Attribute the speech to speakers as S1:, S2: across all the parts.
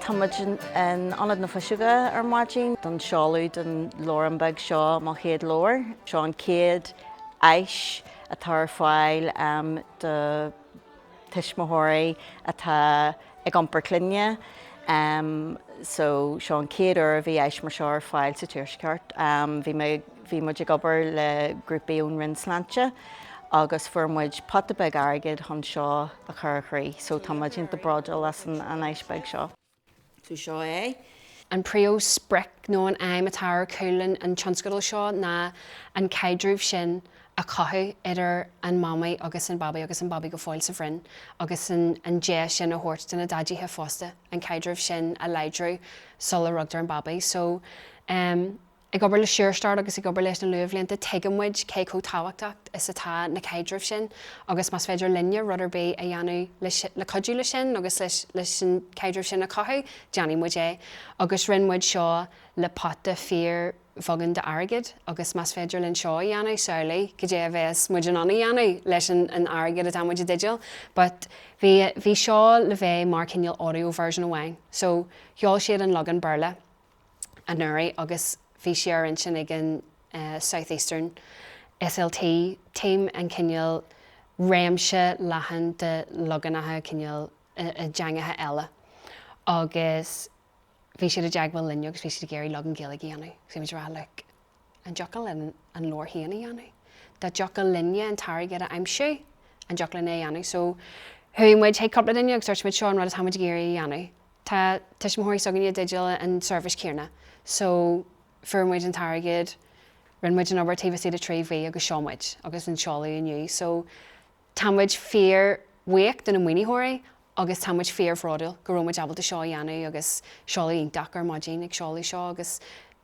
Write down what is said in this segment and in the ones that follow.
S1: Tá muid in Ionad na Fuiseoige ar maidin don seoladh den leabhrán beag seo, Mo Chéad Leabhar. Seo an chéad áis atá ar fáil do. tuismitheoirí atá ag iompar clainne so seo an chéad uair a bhí Áis mar seo ar fáil sa tuaisceart. Bhí muid ag obair le grúpaí ón Roinn Sláinte agus fuair muid pota beag airgid chun seo a chur i gcrích so tá muid iontach bródúil as an Áis beag seo. So seo é. An
S2: príomhsprioc nó an aidhm atá ar chúl an tionscadail seo ná an caidreamh sin a chothú idir an Mamaí agus an Babaí agus an Babaí go fóill sa bhroinn agus an deis sin a thabhairt do na Daidíthe fosta an caidreamh sin a láidriú sula rugtar an Babaí so Ag obair le Sure-Start agus ag obair leis na luathbhlianta tuigeann muid cé chomh tábhachtach is atá na caidrimh sin agus más féidir linne rud ar bith a dhéanamh le cuidiú leis sin agus leis an chaidreamh sin a chothú déanfaidh muid é agus rinne muid seo le pota fíorbheagán d'airgead agus más féidir linn seo a dhéanamh samhlaigh cad é a bhéas muid in ann a dhéanamh leis an airgead atá muid i dteideal but bhí seo le bheith mar cineál audio version amháin so sheol siad an leagan Béarla anuraidh agus bhí sé ar intinn ag an South Eastern SLT team an cineál réimse leathan de leaganacha cineál i dteangacha eile agus bhí siad i dteagmháil linn agus bhí siad ag iarraidh leagan Gaeilge a dhéanamh agus bhí muid ag rá like An dtiocfadh linn an leabhar féin a dhéanamh? Dá dtiocfadh linne an t-airgead a aimsiú, an dtiocfadh linn é a dhéanamh? So, chuaigh muid chuig cúpla duine agus dúirt muid seo an rud atá muid ag iarraidh a dhéanamh. Tá tuismitheoirí s'againne i dteideal an tseirbhís chéanna. So, fuair muid an t-airgead, rinne muid an obair taobh istigh de trí mhí agus sheol muid agus seo an seoladh inniu. So, tá muid fíorbhuíoch de na maoinitheoirí agus tá muid fíorbhródúil go raibh muid ábalta seo a dhéanamh agus seoladh iontach ar maidin ag seoladh seo agus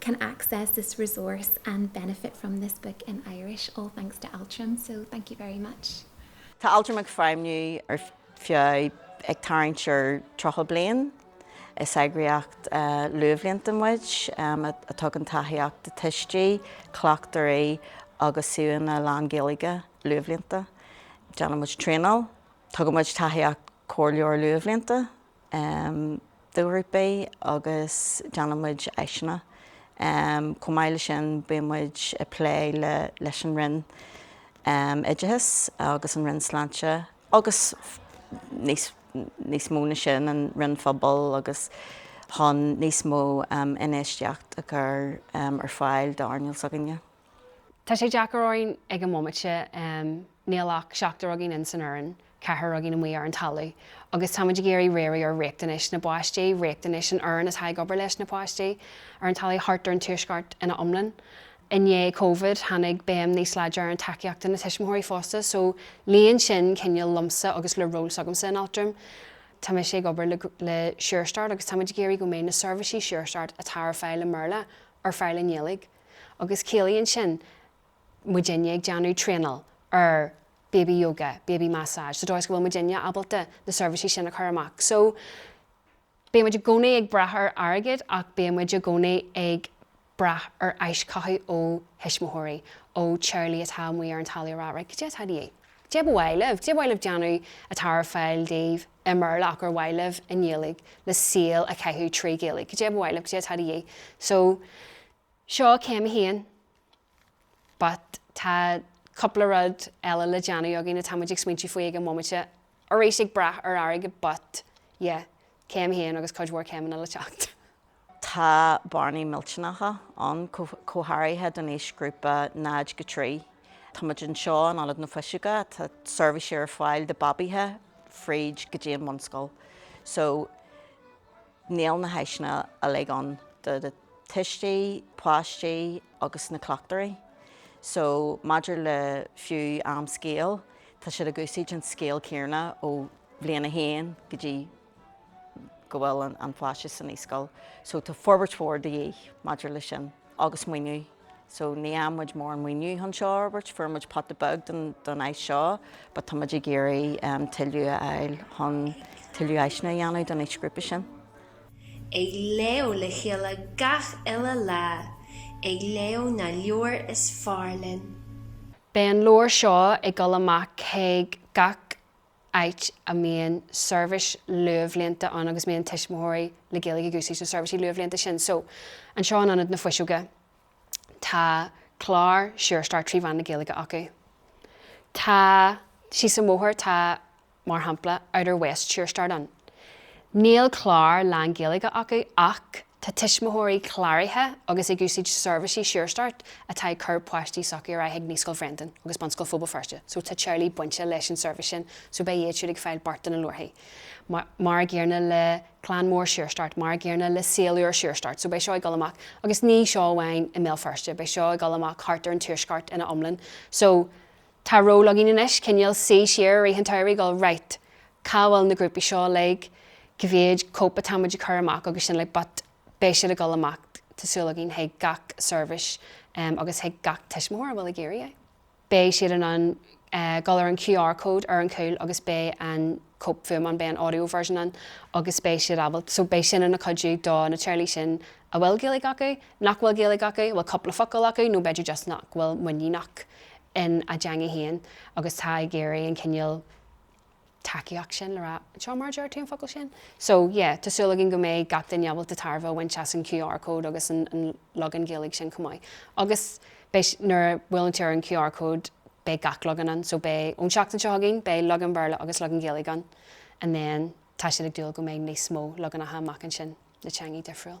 S3: can access this resource and benefit from this book in Irish, all thanks to Altram, so thank you very much. Tá Altram ag
S1: feidhmiú ar feadh ag tarraingt ar 30 bliain. Is eagraíocht luathbhlianta muid a tugann tacaíocht do thuistí, cleachtóirí agus suíomhanna lán-Ghaeilge luathbhlianta. Déanann muid traenáil, tugann muid tacaíocht comhairleora luathbhlianta em, do ghrúpaí agus déanann muid áiseanna. Em, chomh maith leis sin bíonn muid a' plé le, leis an Roinn, em, Oideachais agus an Roinn Sláinte agus níos mó na sin, an Roinn Phobail agus chun níos mó, em, infheistíocht a chur, em, ar fáil d'earnáil s'againne. Tá sé
S2: deacair orainn ag an mbomaite, em. Níl ach seachtar againn san fhoireann, ceathrar againn amuigh ar an talamh, agus táimid ag iarraidh riar ar riachtanais na bpáistí, riachtanais an fhoireann atá ag obair leis na páistí ar an talamh thart ar an Tuaisceart ina iomlán. I ndiaidh Covid, tháinig béim níos láidre ar an tacaíocht do thuismitheoirí fosta, so líon sin cineál liomsa agus le ról s'agamsa in Altram. Tá mise ag obair le le Sure Start agus táimid ag iarraidh go mbeidh na seirbhísí Sure Start atá ar fáil i mBéarla ar fáil i nGaeilge agus ciallaíonn sin, muidinne ag déanamh traenáil ar Baby Yoga, Baby Massage, sa dóigh is go bhfuil muidinne ábalta na seirbhísí sin a chur amach. So, bíonn muid i gcónaí ag brath ar airgead ach bíonn muid i gcónaí ag brath ar aischothú ó thuismitheoirí, ó Charlie atá amuigh ar an talamh ag rá Right, cad é atá de dhíth? Cad é ba mhaith libh? Cad é ba mhaith libh déanamh atá ar fáil daoibh i mBéarla ach ba mhaith libh i nGaeilge le saol a chaitheamh trí Ghaeilge? Cad é ba mhaith libh? Cad é atá de dhíth? So. So céim a haon but tá cúpla rud eile le déanamh againn atá muid ag smaointiú faoi ag an bhomaite, arís ag brath ar airgead but yeah céim a haon agus cuid mhór céimeanna le teacht. Tá
S1: bearnaí millteanacha ann go háirithe don aoisghrúpa 0-3. Tá muid anseo in Ionad na Fuiseoige, tá seirbhísí ar fáil do bhabaithe fríd go dtí an bhunscoil so, Níl na háiseanna uilig ann do thuistí, páistí agus na cleachtóirí. So, maidir le fiú am scéil, tá siad ag úsáid an scéal céarna ó bhliain a haon go dtí go bhfuil an páiste sa naíscoil. So, tá forbairt mhór de dhíth maidir le sin agus maoiniú. So ní fhaigheann muid mórán maoiniú chun seo a fhorbairt. Fuair muid pota beag don áis seo but tá muid ag iarraidh tuilleadh a fháil chun tuilleadh áiseanna a dhéanamh don aoisghrúpa sin.
S4: ag léamh le chéile gach uile lá, ag léamh na leabhair is fearr linn. Beidh an
S2: leabhar seo ag dul amach chuig gach áit a mbíonn seirbhís luathbhlianta ann agus a mbíonn tuismitheoirí le Gaeilge ag úsáid na seirbhísí luathbhlianta sin. So, anseo in Ionad na Fuiseoige, tá clár Sure Start trí mheán na Gaeilge acu. Tá, síos an bhóthair, tá, mar shampla, Outer West Sure Start ann. Níl clár lán-Ghaeilge acu ach. Tá tuismitheoirí cláraithe agus ag úsaid seirbhísí Sure Start atá ag cur páistí sochaí ar aghaidh ag Naíscoil Bhréandáin agus Bunscoil Phobal Feirste so tá teaghlaigh bainte leis an seirbhís sin so beidh iad siúd ag fáil beart ina lárthaí mar an gcéanna le Clann Mór Sure Start, mar an gcéanna le Saol Úr Sure Start so beidh seo ag dul amach agus ní seo amháin i mBéal Feirste beidh seo ag dul amach thart ar an tuaisceart ina iomlán so Tá ról againn anois, cineál suí siar i rith an tsamhraidh ag dul, right, cá bhfuil na grúpaí seo uilig, cá mhéad cóip atá muid ag cur amach agus sin like but beidh siad ag dul amach tá súil againn chuig gach seirbhís em agus chuig gach tuismitheoir a bhfuil ag iarraidh é. Beidh siad in ann eh dul ar an QR code ar an chúl agus beidh an cóip fuaime ann, beidh an audio version ann agus beidh siad ábal, so beidh sin ina chuidiú do na teaghlaigh sin a bhfuil Gaeilge acu, nach bhfuil Gaeilge acu, bhuel cúpla focal acu nó b'fhéidir just nach bhfuil muiníneach in a dteanga féin agus tá ag iarraidh an cineál tacaíocht sin le rá seo mar a deir tú an focal sin. So yeah, tá súil againn go mbeidh gach duine ábalta tairbhe a bhaint as an QR code agus an leagan Gaeilge sin chomh maith. Agus beidh, nuair a bhuaileann tú ar an QR code beidh gach leagan ann, so beidh, ón seachtain seo chugainn, beidh leagan Béarla agus leagan Gaeilge ann and then tá siad ag dúil go mbeidh níos mó leaganacha amach ansin le teangaí difriúil.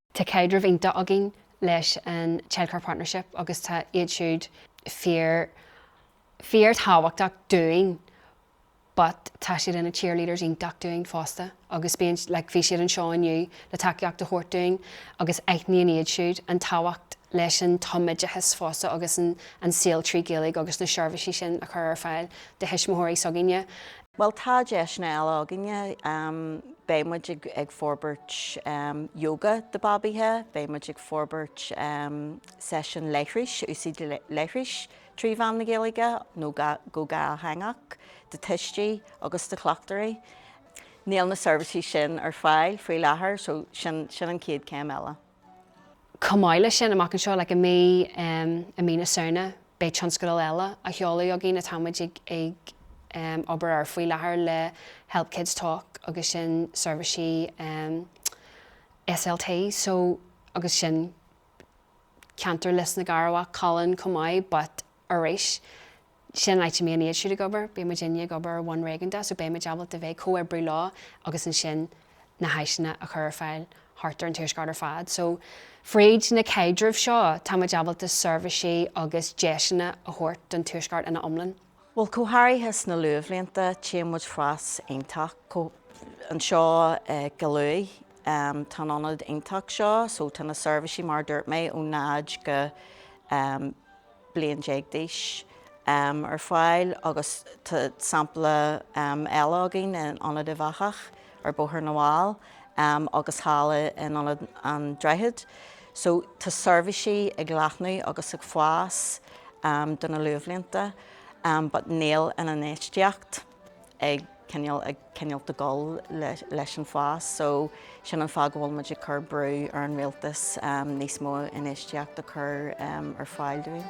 S5: Tá caidreamh
S2: iontach againn leis an Childcare Partnership agus tá iad siúd fíor, fíor tábhachtach dúinn but tá siad ina cheerleaders iontach dúinn fosta agus bíonn, like bhí siad anseo inniu le tacaíocht a thabhairt dúinn agus aithníonn iad siúd an tábhacht leis an tumoideachas fosta agus an saol trí Ghaeilge agus na seirbhísí sin a chur ar fáil do thuismitheoirí s'againne. Bhuel
S1: tá deiseanna eile againne. Beidh muid ag forbairt yoga do babaithe, beidh muid ag forbairt seisiún leithris, úsáid leithris trí mheán na Gaeilge nó go dhátheangach do tuistí agus do chleachtóirí. Níl na seirbhísí sin ar fáil faoi láthair so sin an chéad céim eile. Chomh
S2: maith leis sin, amach anseo, like i mí, um, i mí na Samhna, beidh tionscadal eile á sheoladh againn atáimid ag, ag, um, obair air faoi láthair le Help Kids Talk agus sin seirbhísí, um, SLT, so, agus sin ceantar Lios na gCearrbhach, Colin chomh maith, but, arís, sin an áit a mbíonn iad siúd ag obair, bíonn muidinne ag obair ar bhonn réigiúnda so beidh muid ábalta bheith ag comhoibriú leo agus ansin na háiseanna a chur ar fáil thart ar an tuaisceart ar fad. So fríd na caidrimh seo tá muid ábalta seirbhísí agus deiseanna a thabhairt don tuaisceart ina iomlán. Bhuel go
S1: háirithe sna luathbhlianta téann muid fras iontach chomh, anseo go luath tá an ionad iontach seo so tá na seirbhísí mar a dúirt mé ó 0 go, bliain déag d'aois ar fáil agus tá sampla eile againn in Ionad Uíbh Eachach ar Bhóthar na bhFál agus thall in Ionad an Droichid. So tá seirbhísí ag leathnú agus ag fás do na luathbhlianta but níl an infheistíocht. ag cineál, ag cineál ag gabháil leis an fás so sin an fáth go bhfuil muid ag cur brú ar an rialtas níos mó infheistíocht a chur ar fáil dúinn.